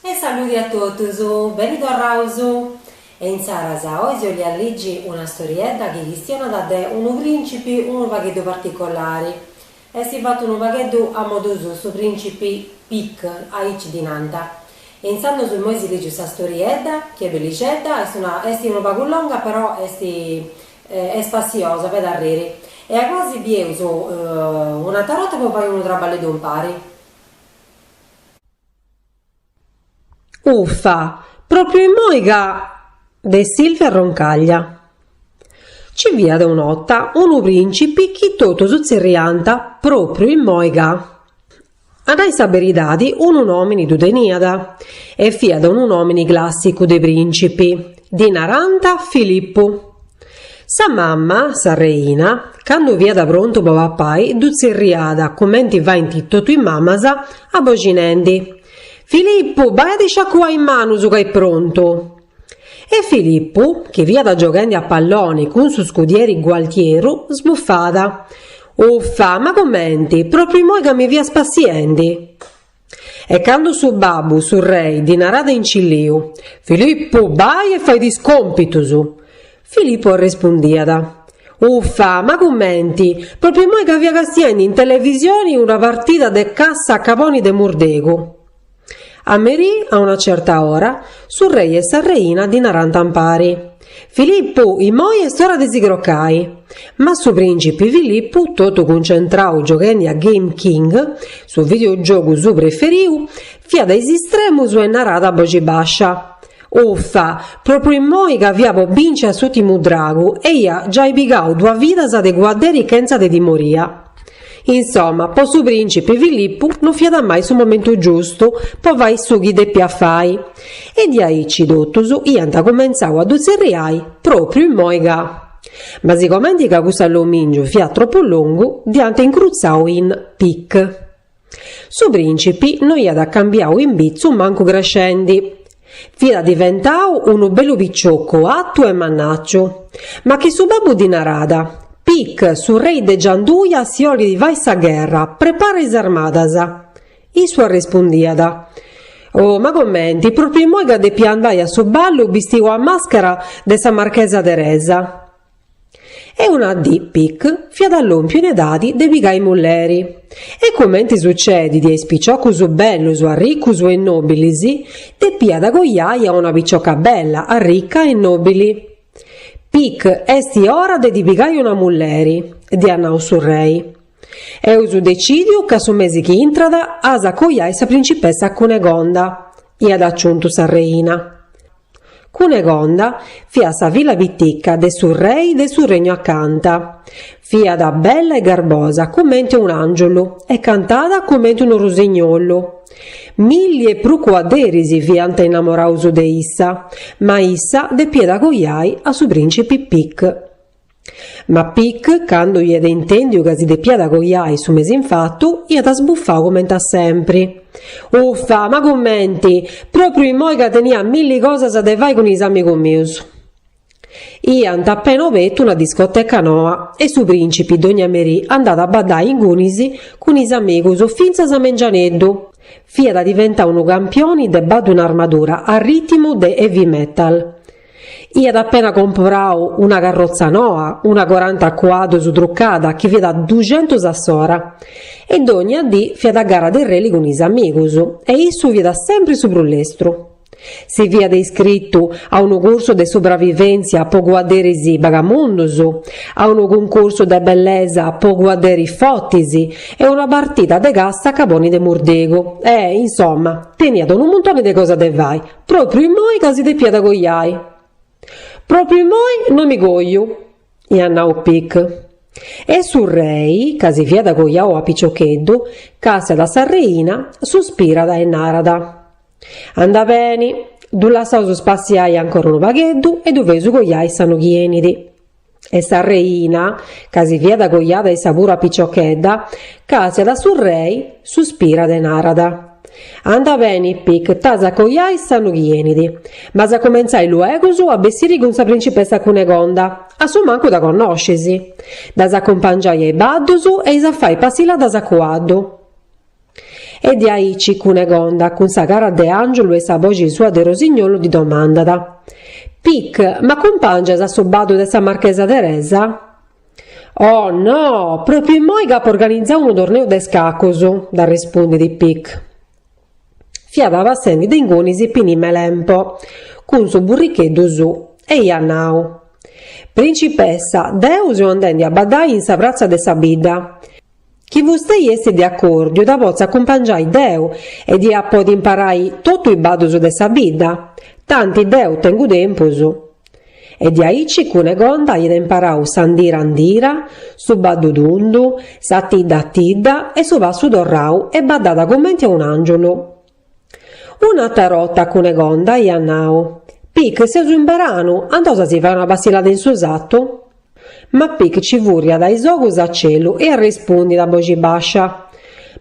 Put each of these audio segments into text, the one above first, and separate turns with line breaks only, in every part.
E saludi a totus, beni torraus! E insaras oi si 'oliat ligi una storiedda chi chistionat de unu principi unu pagheddu particolari. Esti fattu unu pagheddu a modu suu, su principi Pic, aici ddi nant. E insandus imoi si ligius sa storiedda, chi est bellicedda, est una, esti unu pagu longa però esti Est spassiosa, fait arriri. E a goa si bieus un'atra 'orta po fai unu traballeddu impari.
Uffa, propriu immoi ca. De Silvia Roncaglia Ci fiat un'ota unu principi chi totus tzerriant propriu immoi ca. A nai sa beridadi, unu nòmini ddu teniat, e fiat unu nòmini clàssicu de prìncipi, ddi narànt Filipu. Sa mama, sa reina, candu fiat prontu po papai ddu tzerriat, cumenti faint totu is mamas, aboxinendi, Filipu, bai a ti sciacuai is manus ca est prontu! E Filippu, chi fiat gioghendi a palloni cun su scudieri Gualtieru, sbufàt, Uffa, ma comenti, pròpriu imoi ca mi fia spassiendi! E candu su babbu, su rei, ddi naràt in cilliu, Filippu, bai e fai is còmpitus! Filippu arrispondiat, Uffa, ma comenti, pròpriu imoi ca fia castiendi in televisioni una partida de cassa a caboni de murdegu! A merì, a una certa ora, su rei e sa reina ddi narànt impari, Filippu, immoi est ora de si crocai! Ma su prìncipi Filippu, totu cuncentrau gioghendi a Game King, su videogiogu suu preferiu, fiat a is istremus e naràt a boxi bàscia, Uffa! Propriu immoi ca fia po binci a s'ùtimu dragu e ia giai pigau duas vidas de cuadderi chentza de timoria. Insoma, po su prìncipi Filippu no fiat mai su momentu giustu po fai su chi depiat fai e diaici totus iant cumentzau a ddu tzerriai propriu immoi ca. Ma sigomenti ca cuss'allomìngiu fiat tropu longu, dd'iant incrutzau in pic. Su prìncipi no iat cambiau imbitzu mancu crescendi. Fiat diventau unu bellu piciocu atu e mannàciu. Ma chi su babbu ddi naràt, Pic, su rei de Gianduja si 'olit fai sa gherra, prepara is armadas! Issu arrespundiat, Oh, ma comenti, pròpriu imoi ca depi andai a su ballu bistiu a màschera de sa marchesa Teresa! E una dì Pic fiat lòmpiu in edadi de pigai mulleri. E cumenti sucedit a is piciocus bellus arricus e nòbilis, depiat coiai a una picioca bella, arrica e nòbili. Pic, est ora de ti pigai una mulleri, dd'iat nau su rei. Eus decìdiu ca su mesi chi intrat as a coiai sa principessa Cunegonda, iat aciuntu sa reina. Cunegonda fiat sa filla pitica de su rei de su regnu acanta. Fiat bella e garbosa comente un'angiulu e cantàt comente unu rusignolu. Milli e prus cuadderis fiant innamoraus de issa, ma issa depiat coiai a su principi Pic. Ma Pic, candu iat intèndiu ca si depiat coiai su mesi infatu, iat sbufau comente a sempri. Uffa, ma cumenti! Pròpriu imoi ca tenia milli cosas de fai cun is amigus mius! Iant appena obertu una discoteca noa e su prìncipi dònnia merì andàt a baddai ingunis cun is amigus fintzas a mengianeddu. Fiat diventau unu campioni de baddu in armadura a rìtimu de heavy metal. Iat appena comprau una carrotza noa, una coranta cuaddus trucada chi fiat duxentus a s'ora, e dònnia dì fiat a gara de rally cun is amigus, e issu fiat sempri su prus lestru. Si fiat iscritu a unu cursu de subravivèntzia po cuadderis bagamundus, a unu cuncursu de bellesa po cuadderis fortis e una partida de cassa a caboni de murdegu e, insoma, teniat unu muntoni de cosas de fai, Pròpriu immoi ca si depiat coiai. Pròpriu immoi no mi coiu, iat nau Pic. E su rei, ca si fiat coiau a piciocheddu, càstiat a sa reina, suspirat e narat, Anda beni, ddu lassaus spassiai ancora unu pagheddu e ddu feus coiai s'annu chi 'enit. e sa reina, ca si fiat coiada issa puru a piciochedda, càstiat a su rei, suspirat e narat, Anda beni, Pic, t'as a coiai s'annu chi 'enit, ma as a comentzai luegus a bessiri cun sa principessa Cunegonda, a su mancu dda connoscis. Dd'as a acumpangiai a is baddus e eis a fai passilladas a cuaddu. E diaici Cunegonda, cun sa cara de angiulu e sa boxi sua de rosignolu, ddi domandat, Pic, m'acumpàngias a su baddu de sa marchesa Teresa? Oh, no! Pròpriu imoi c'apu organizau unu torneu de scacus, dd'arrespundit Pic. Fiat passendi de ingunis Pinimelempo, cun su burricheddu suu, e iat nau, Principessa, deu seu andendi a baddai in sa pratza de sa bidda, Chi fustei est de acòrdiu dda potzu acumpangiai deu e dd'ia a podi imparai totu is baddus de sa bidda, tanti deu tengu tempus. E diaici Cunegonda iat imparau s'andira andira, su baddu tundu, sa tidda tidda e su passu torrau e baddat cumenti a un'àngiulu. Un'atra 'rota Cunegonda iat nau, Pic, seus in beranu, andaus a si fai una passillada in su satu? Ma Pic ci furriat is ogus a celu e arrespundit a boxi bascia,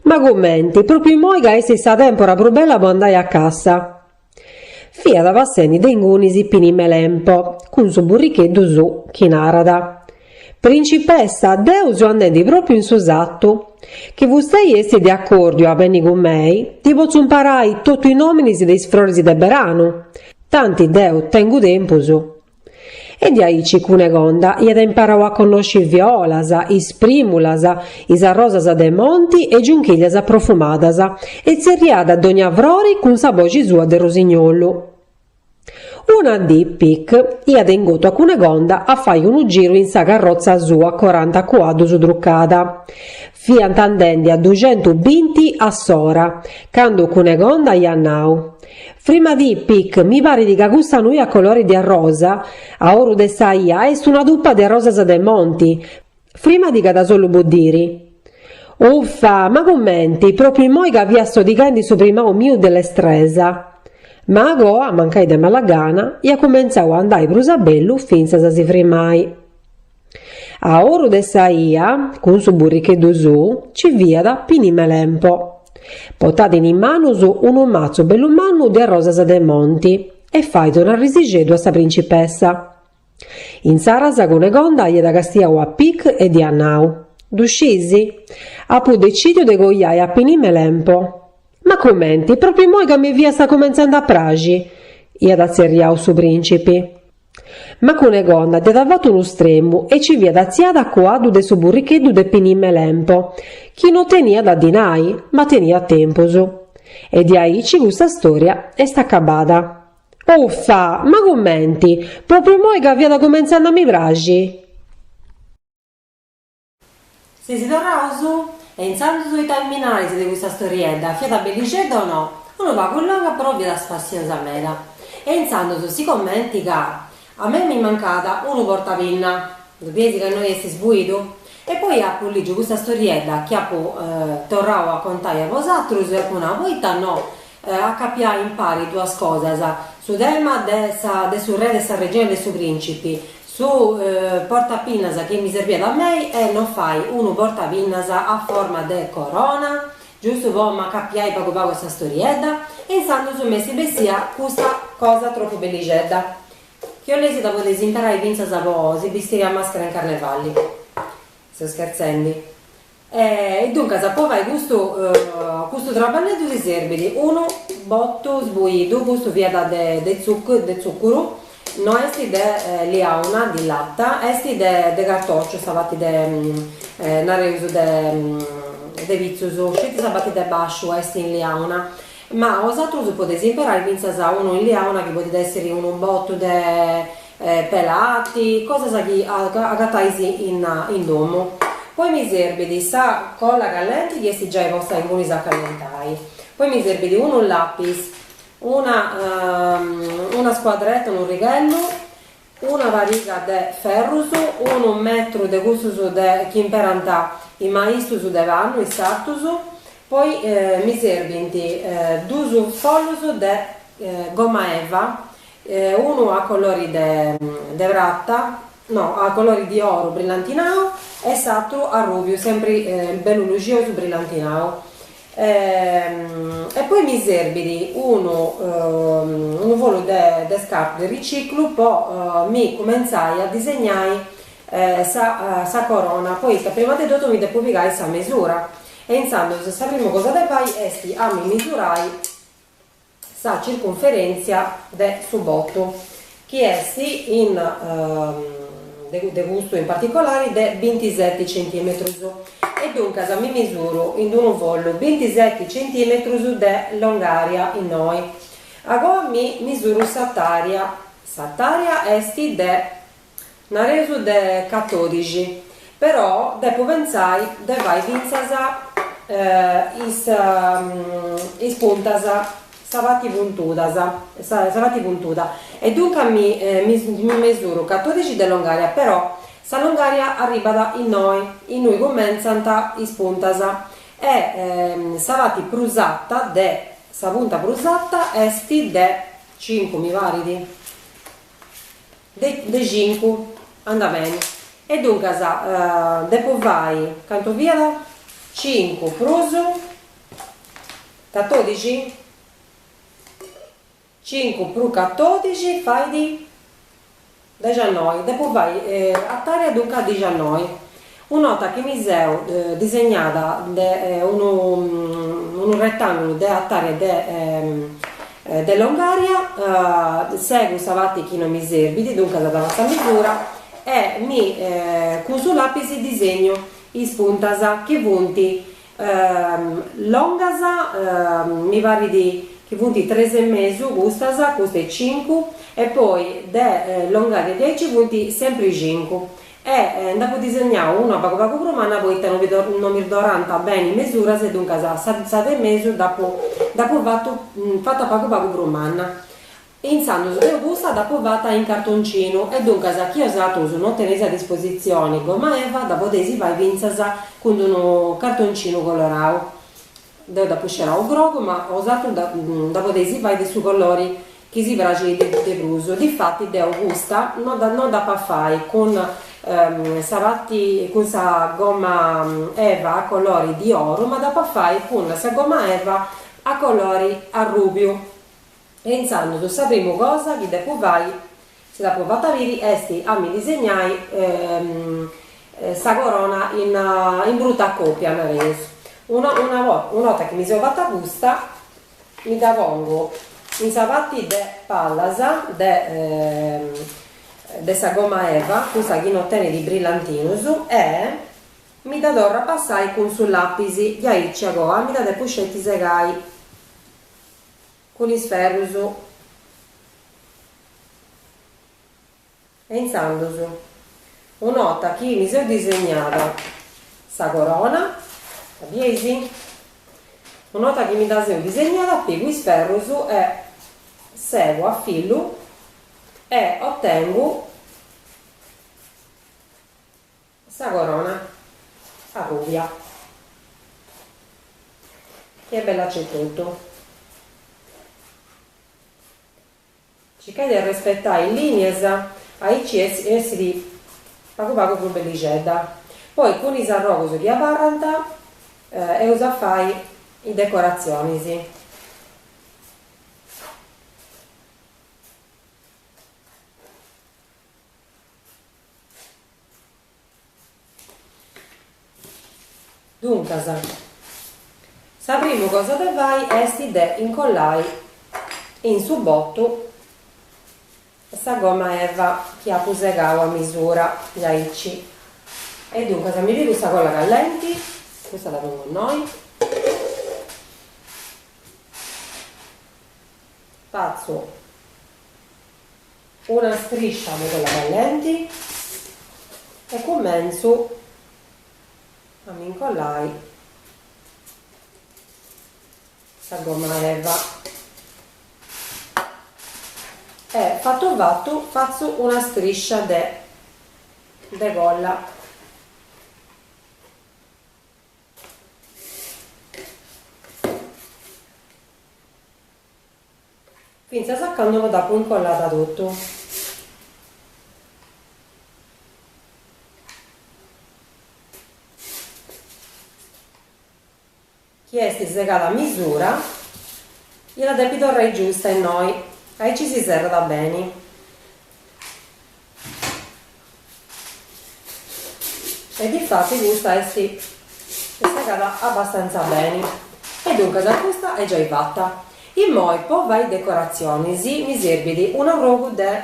Ma cumenti, propriu immoi ca essit sa tempora prus bella po andai a cassa! Fiat passendi de ingunis Pini Melempo cun su burricheddu suu chi narat, Principessa, deu seu andendi pròpiu in su satu. Chi fustei esti de acòrdiu a benni cun mei, ddi potzu imparai totu is nòminis de is froris de beranu, tanti deu tengu tempus. E diaici Cunegonda iat imparau a connosci is violas, is prìmulas, is arrosas de monti e giunchillas profumadas e tzerriat dònnia frori cun sa boxi sua de rosignolu. Una dì Pic iat ingotu a Cunegonda a fai unu giru in sa carrotza sua coranta cuaddus trucada. Fiant andendi a duxentu binti a s'ora, candu Cunegonda iat nau, Frimadì, Pic, mi parit ca custa nui a colori de arrosa, a oru de sa ia, est una tupa de arrosas de monti, Frimadì ca ddas ollu boddiri. Uffa, ma cumenti, propriu immoi ca fia sodighendi su primau miu de lestresa! Ma agoa, mancai de mala gana, iat cumentzau a andai prus a bellu fintzas a si frimai. A oru de sa ia, cun su burricheddu suu, ci fiat Pini Melempo. Potat in is manus unu matzu bellu mannu de arrosas de monti e fait un'arrisixeddu a sa principessa. Intzaras Cunegonda iat castiau a Pic e dd'iat nau, Ddu sciis? Apu decìdiu de coiai a Pini Melempo. Ma cumenti, pròpriu imoi ca mi fiast cumentzende a praxi? iat atzerriau su prìncipi. Ma Cunegonda dd'iat fatu unu stremu e nci fiat atziada a cuaddu de su burricheddu de Pini Melempo, chi no teniat dinai, ma teniat tempus. E diaici custa stòria est acabada. Uffa! Ma cumenti? Propriu moi ca fiat cumentzende a mi
praxi? Seus torraus! E intzandus ita mi narais de custa storiedda, fiat bellixedda o no? Unu pagu longa però fiat spassiosa meda. E intzandus sicomenti ca a mei mi mancat unu portapinna. Ddu bides ca innoi est sbuidu? E poi apu lìgiu custa storiedda chi apu torrau a contai a bosatrus e apu nau, poita no? A acapiai impari duas cosas, su tema de sa de su re de sa reina e de su principi, su portapinnas chi mi serbiat a mei e no fai unu portapinnas a forma de corona, giustu po m'acapiai pagu pagu a sa storiedda, e intzandus mi est bessia custa cosa tropu bellixedda, chi 'oleis dda podeis imperai fintzas po si bistiri a maschera in carnevali. Seu scherzendi. E duncas po fai custu custu traballeddu si serbit unu botu sbuidu, custu fiat de de tzuccuru, no est de liauna, di latta, est de cartociu sa parti de nareus de de pitzus, sceti sa parti de basciu est in liauna, ma osatrus podeis imperai fintzas unu in liauna chi podit essiri unu botu de pelati, cosas chi agatais in domu. Poi mi serbit sa colla callenti chi est giai posta in cunis a callentai, poi mi serbit unu lapis, una una scuadretta, unu righellu, una pariga de ferrus, unu metru de custus de chi imperant is maistus de pannu, is sartus, poi mi serbint duus follus de gomma eva E unu a colori de de prata, no, a colori di oru brillantinau e s'atru arrubiu, sempri bellu luxiosu brillantinau. E poi mi serbit unu unu follu de scartu de riciclu po mi cumentzai a disegnai sa sa corona, poita prima de totu mi depu pigai sa mesura e intzandus sa primu cosa de fai est a mi misurai sa circunferèntzia de su botu, chi est in custu in particolari de bintiseti centìmetrus, e duncas mi misuru in d-unu follu bintiseti centìmetrus de longària innoi. Agoa mi misuru s'atària, s'atària est de. Nareus de catodixi, però depo pentzai de fai fintzas is is puntas, sa parti puntuda, sa parti puntuda, e duncas mi mi mi mesuru catodixi de longaria, però sa longaria arribbat innoi, innui cumentzant is puntas, e sa parti prus ata de, sa punta prus ata est de cincu mi parit De cincu andat beni. E duncas depu fai, cantu fiat, cincu prus catodixi, cincu prus catodixi fait dixannoi, depu fai atària duncas dixannoi. Un'ota chi mi seu disegnada unu unu retangulu de artària de de longaria, segu sa patti chi non mi serbit, duncas dda lassu a misura e mi cun su lapis disegnu is puntas chi funt longas mi parit chi funt tres e mesu custas, custa est cincu e poi de longaria diaici funt sempri cincu E nd'apo disegnadu una pagu pagu prus manna poita no no mi torrant beni is mesuras e duncas sa sa de mesu dd'apo dd'apo fatu fata pagu pagu prus manna. E intzandus deu cussa dd'apo fata in cartoncinu e duncas chi bosatrus no teneis a dispositzioni goma eva dda podeis fai fintzas cun d'unu cartoncinu colorau. Deu dd'apu scerau grogu, ma bosatrus dda podeis fai de su colori chi si praxit de prus. Difati deu custa no dd'ap'a fai cun sa patti cun sa goma eva a colori di oru, ma dd'ap'a fai cun sa goma eva a colori arrubiu. E intzandus sa primu cosa chi depu fai, si dd'apu fata biri, est a mi disegnai sa corona in in bruta copia, nareus. Una una una 'orta chi mi seu fata custa, mi dda pongu in sa patti de pallas de de sa gomma eva, cussa chi no tenit brillantinus, e mi dda torru a passai cun su lapis, diaici agoa mi dda depu sceti segai cun is ferrus e intzandus un'ota chi mi seu disegnada sa corona, dda bieis? un'ota chi mi dda seu disegnada pigu is ferrus e segu a fillu e otengu Sa corona arrùbia chi est bella aici etotu. Circais de respetai is lìnias aici essit pagu pagu prus bellixedda. Poi cun is arrogus chi abarrant eus a fai is decoratzionis. Duncas, sa primu cosa de fai est de incollai in su botu sa gomma eva chi apu segau a misura diaici e duncas mi pigu sa colla callenti, custa dda pongu innoi, fatzu Una striscia de cola bellenti e cumentzu a mi incollai sa gomma eva e fattu fattu fatzu una striscia de colla Fintzas a cando no dd'apo incollada totu. Chi est segada a misura, iat a depi torrai giusta innoi, aici si serrat beni. E difati custa est segada abbastantza beni. E duncas custa est giai fatta. Immoi po fai decoratzionis mi serbit un'arrogu de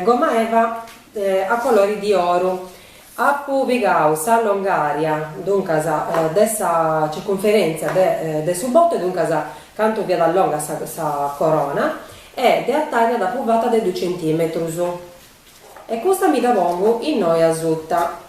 gommaeva a colori di oru Apu pigau sa longària, duncas, de sa circunferèntzia de su botu, duncas, cantu fiat longa sa corona, e de atària dd'apu fata de dus centìmetrus. E custa mi dda pongu innoi asuta.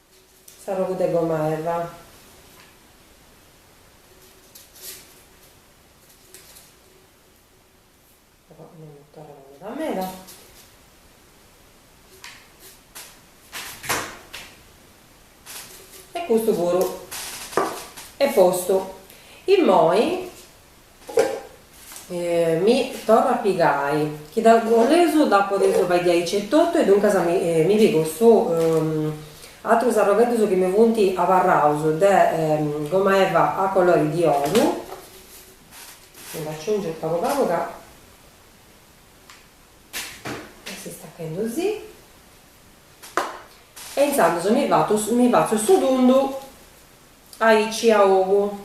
S'arrogu de goma eva. Però no m'at torradu meda meda. E custu puru est postu. Immoi Mi torru a pigai, chi ddu boleus dda podeus fai de aici etotu e duncas mi pigu is atrus arrogheddus chi mi funt abarraus de goma eva a colori di oru, mi ddu aciungiu pagu pagu ca est istachendu si, e intzandus mi fatzu su tundu aici a ogu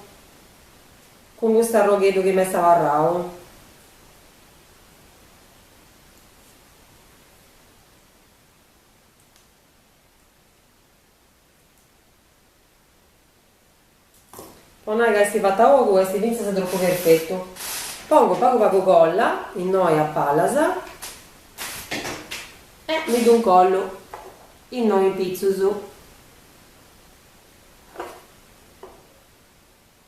Cun custu arrogheddu chi m'est abarrau. Po nai ca est fatu a ogu est fintzas tropu perfetu. Pongu pagu pagu colla, innoi a palas, e mi ddu incollu innoi in pitzus.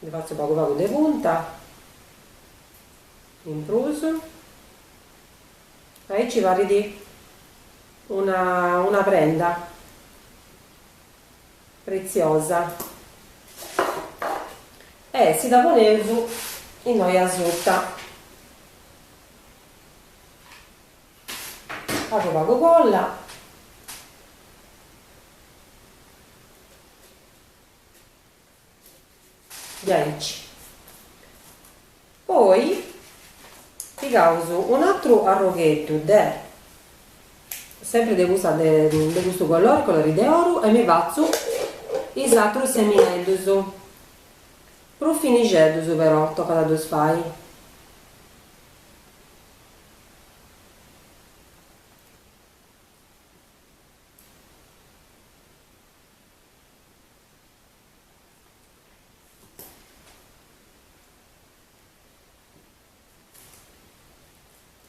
Ndi fatzu pagu pagu de punta in prus. Aici parit una una prenda pretziosa e si dda poneus innoi asuta. Pagu pagu colla. Diaici. Poi pigaus un'atru arrogheddu de, sempri de custa de custu colori, colori de oru e mi fatzu is atrus semineddus, prus finixeddus però tocat a ddus fai.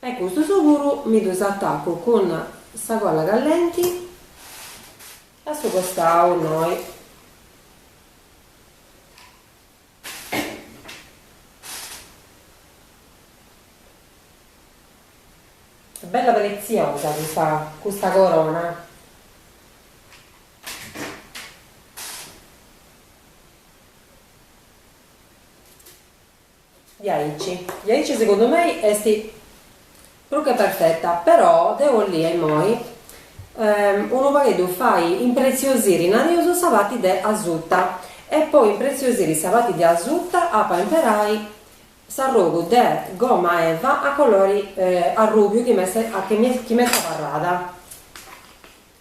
e custus puru mi ddus atacu cun sa colla callenti a su costau innoi. Bella pretziosa custa custa corona. Diaici, diaici segundu mei est Prus che perfeta, però deo 'ollia immoi unu pagheddu fai impreziosiri, nareus, sa parti de asuta, e po impreziosiri sa parti de asuta apu a imperai s'arrogu de gomma eva a colori arrùbiu chi m'est abarrada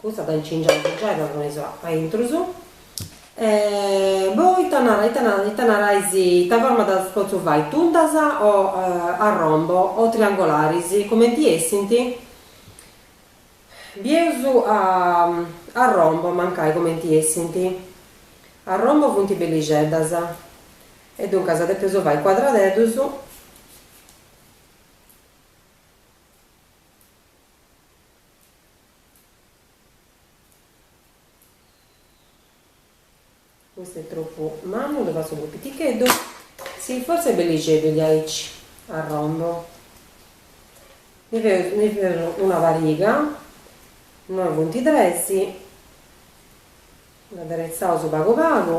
Custa dda incingiaus giai dda poneus a intrus e poi ita narais ita forma ddas potzu fai tundas o a rombo o triangolaris cumenti essint bieus a rombo mancai cumenti essint a rombo funt bellixeddas e duncas depeus fai cuadradeddus Custu est tropu mannu, ddu fatzu prus piticheddu, si fortzis est bellixeddu diaici a rombo, ndi feus ndi feus una pariga, innoi funt tres, dd'aderetzaus pagu pagu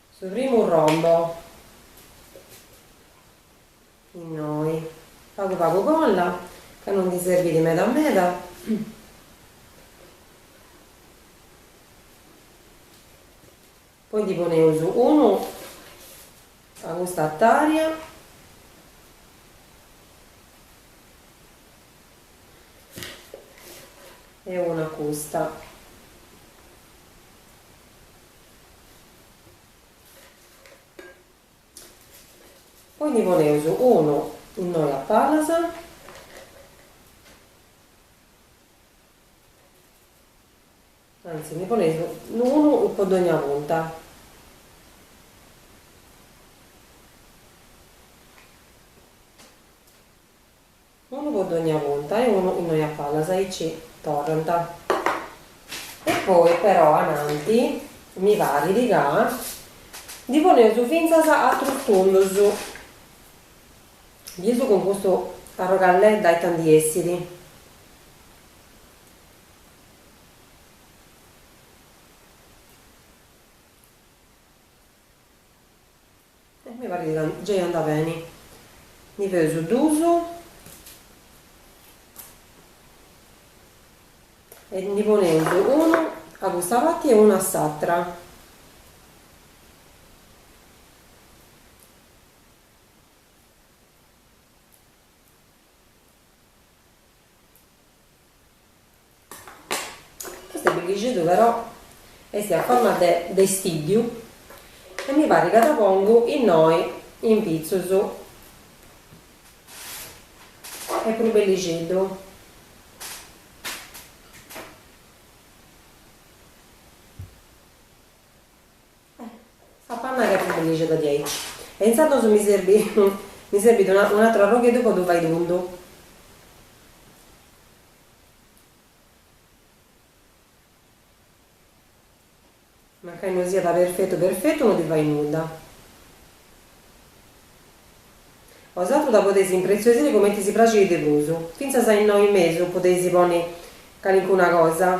Su primu rombo innoi. Pagu pagu colla ca non ndi serbit meda meda. Poi ndi poneus unu a custa attaria e unu a custa. Poi ndi poneus unu innoi a palas. Anzi ndi poneus unu po dogna punta. Unu po dogna punta e unu innoi a palas aici torrant. E poi però ananti mi parit ca ndi poneus fintzas atrus tundus. Bieus cun custu arrogalledda ita ndi essit. E mi parit ca gei andat beni. Ndi feus duus e ndi poneus unu a custa parti e unu a s'atra. Custu bellixeddu però est a forma de de istiddiu e mi parit ca dda pongu innoi in pitzus est prus bellixeddu. Mi parit ca est bellixedda diaici. E intzandus mi serbit mi serbit un'aturu arrogheddu po ddu fai tundu. Mancai no siat perfetu perfetu no ddi fait nudda. Bosaturus dda podeis impreziosiri cumenti si praxit de prus. Fintzas a innoi mesu podeis ponni calincuna cosa.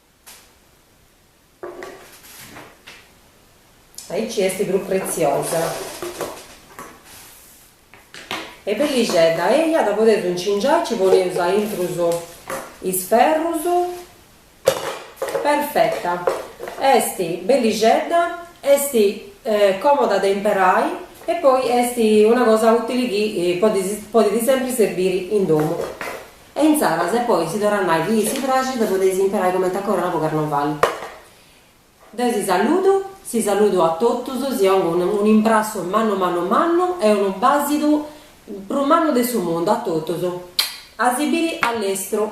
Aici est prus pretziosa. E bellixedda, eja dda podeus incingiai, nci poneus aintrus is ferrus, perfetta, est bellixedda, est còmoda de imperai e poi est una cosa ùtili chi podit sempri serbiri in domu Inzaras e poi si torrat nai chi si praxit de podei si imperai coment'a corona po carnovali. Deu si saludu, si saludu a totus, si ongu unu unu imbrassu mannu mannu mannu e unu basidu prus mannu de su mundu a totus. A si biri a lestru.